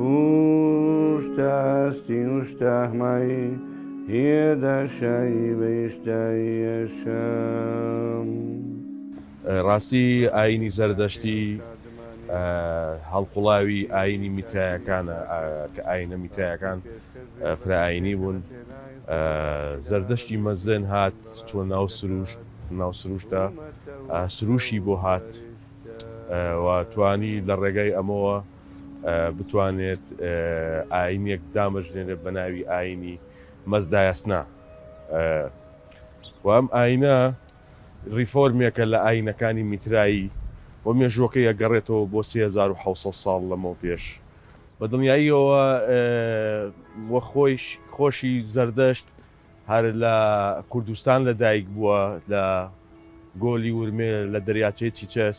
ووشتە ئاستی وشتە ئەهمایی هیێدە شایی بەیشتاییە شام. ڕاستی ئایینی زەردەشتی هەڵقوڵاوی ئایینی میترایەکانە کە ئایینە میترایەکان فرەئایینی بوون زەردەشتی مەزن هات چۆن ناو سروشت ناو سروشتە سروشی بۆ هات و توانی لە ڕێگای ئەمەوە بتوانێت ئاینێک دامەژنێنێت بە ناوی ئاینی مەزدایسنا و ئەم ئاینە ریفۆرمێکە لە ئاینەکانی میترایی و مێژوەکەی ئەگەڕێتەوە بۆ 1970 ساڵ لەمەو پێش بە دڵنیاییەوە وە خۆیش خۆشی زەردەشت هەر لە کوردستان لە دایک بووە لە گۆلی ورمێ لە دەریاچەی چیچەس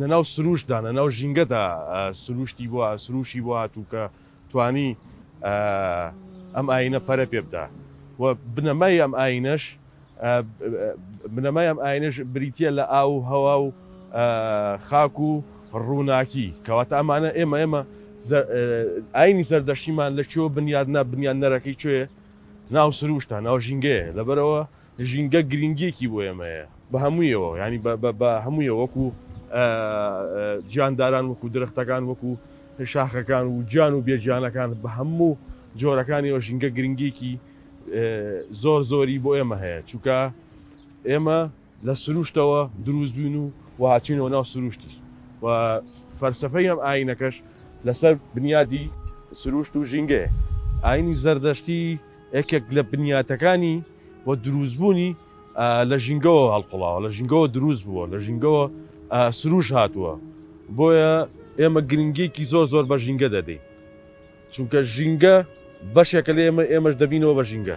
لە ناو سرووشتدا، لە ناو ژینگەدا سرووشتی بووە، سرووشی بۆ هاتوو کە توانی ئەم ئاینە پەرە پێ بدا و بنەمای ئەم ئاینەش بنەمای ئەم ئاینەش بریتە لە ئاو و هەوا و خاک و ڕووناکی کەواتە ئەمانە ئێمە ئێمە ئاینی زەردەشتیمان لە چۆ بنیاد نە بنیاد نەرەکەی کوێ ناو سروشتە ناو ژینگەیە لەبەرەوە ژینگە گرینگیەکی بۆ ئێمە هەیە بە هەموویەوە یانی بە هەموویەوە وەکو گیانداران وەکو درەختەکان وەکو شاخەکان و گیان و بێ گیانەکان بە هەموو جۆرەکانیەوە ژینگە گرنگیکی زۆر زۆری بۆ ئێمە هەیە چووکە ئێمە لە سروشتەوە دروست بووین و وهاچینەوە ناو سروشتیش و فەرسەفەی ئەم ئاینەکەش لەسەر بنیادی سروشت و ژینگەیە ئاینی زەردەشتی یەکێک لە بنیاتەکانی و دروستبوونی لە ژینگەوە هەڵقوڵاوە لە ژینگەوە دروست بووە لە ژینگەوە سروش هاتووە بۆیە ئێمە گرنگێکی زۆر زۆر بە ژینگە دەدەین چونکە ژینگە بەشێکە لە ئێمە ئێمەش دەبینەوە بە ژینگە